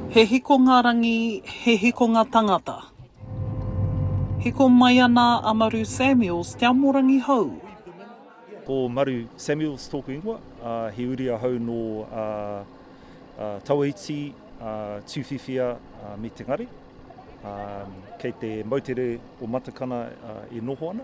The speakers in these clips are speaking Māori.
He hikonga rangi, he hikonga tangata. Hiko mai ana a Maru Samuels, Te Amorangi Hou. Ko Maru Samuels tōku ingoa, he uri ahau nō Tawaiti, Tuwhiwhia me Te Ngare. Kei te moutere o Matakana e noho ana.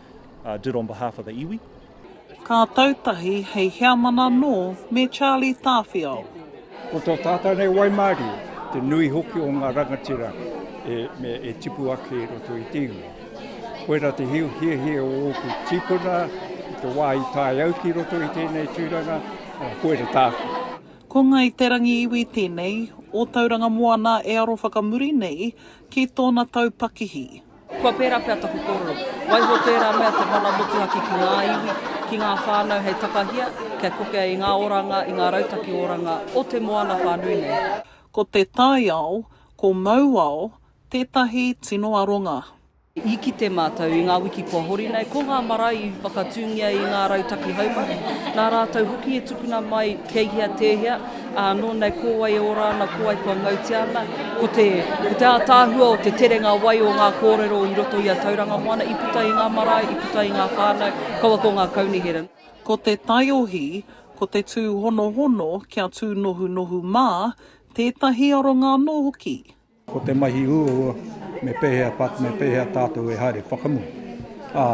did on behalf of the iwi. Ka tau tahi hei heamana nō me Charlie Tāwhiao. Ko tō tātau nei waimarie, te nui hoki o ngā rangatira e tipu ake i roto i te iwi. Koira te hiahia o ōku tīpuna i te wā i tae au ki roto i tēnei tūranga, koira tāku. Ko Ngāi Te Rangi iwi tēnei o Tauranga Moana e aro whakamuri nei ki tōna taupakihi. Kua pērā pea taku kōrero. Waiho tērā mea te mana motuhake ki ngā iwi, ki ngā whānau hei takahia, kia kokea i ngā oranga, i ngā rautaki oranga o te moana whānui nei. Ko te taiao, ko Mauao tētahi tino aronga. I kite mātou i ngā wiki kua hori nei, ko ngā marae i whakatūngia i ngā rautaki haumaru, nā rātou hoki e tukuna mai kei hea tēhea, Ā, nōnei ko wai e ora ana, ko wai kua ngautia ana, ko te, ko te ātaahua o te terenga wai o ngā kōrero i roto i a Tauranga Moana, i puta i ngā marae, i puta i ngā whānau, kaua ko ngā kaunihera. Ko te taiohi, ko te tūhonohono kia tūnohunohu mā, tētahi aronga anō hoki. Ko te mahi uaua, me pēhea pat, me pēhea tātou e haere whakamutu, ā,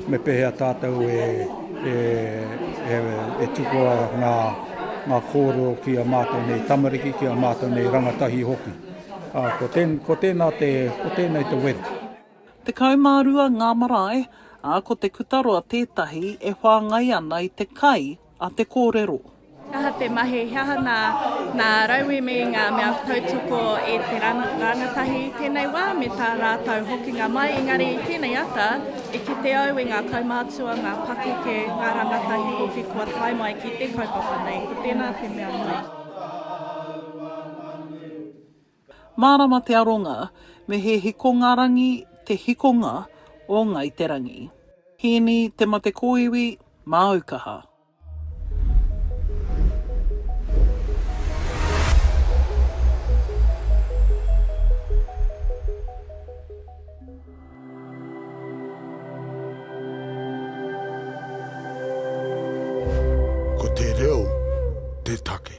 me pēhea tātou e, e, e, e tukua ngā, ngā kōrero ki a mātou nei tamariki, ki a mātou nei rangatahi hoki. Ā, ko, tēn, ko tēnā te, ko tēnei te weru. Tekau mā rua ngā marae, ā, ko Te Kutaroa tētahi e whāngai ana i te kai a te kōrero. He aha te mahi, he aha nā, nā rauemi ngā mea tautoko e te rānatahi i tēnei wā me tā rātou hokinga mai, engari i tēnei ata, i kite au i ngā kaumātua, ngā pakeke, ngā rānatahi hoki kua tae mai ki te kaupapa nei, ko tēnā te mea nui. Mārama te aronga, me he hikongarangi te hikonga o Ngāi Te Rangi. Hīni, te mate kōiwi, māu kaha. Ko te reo te take.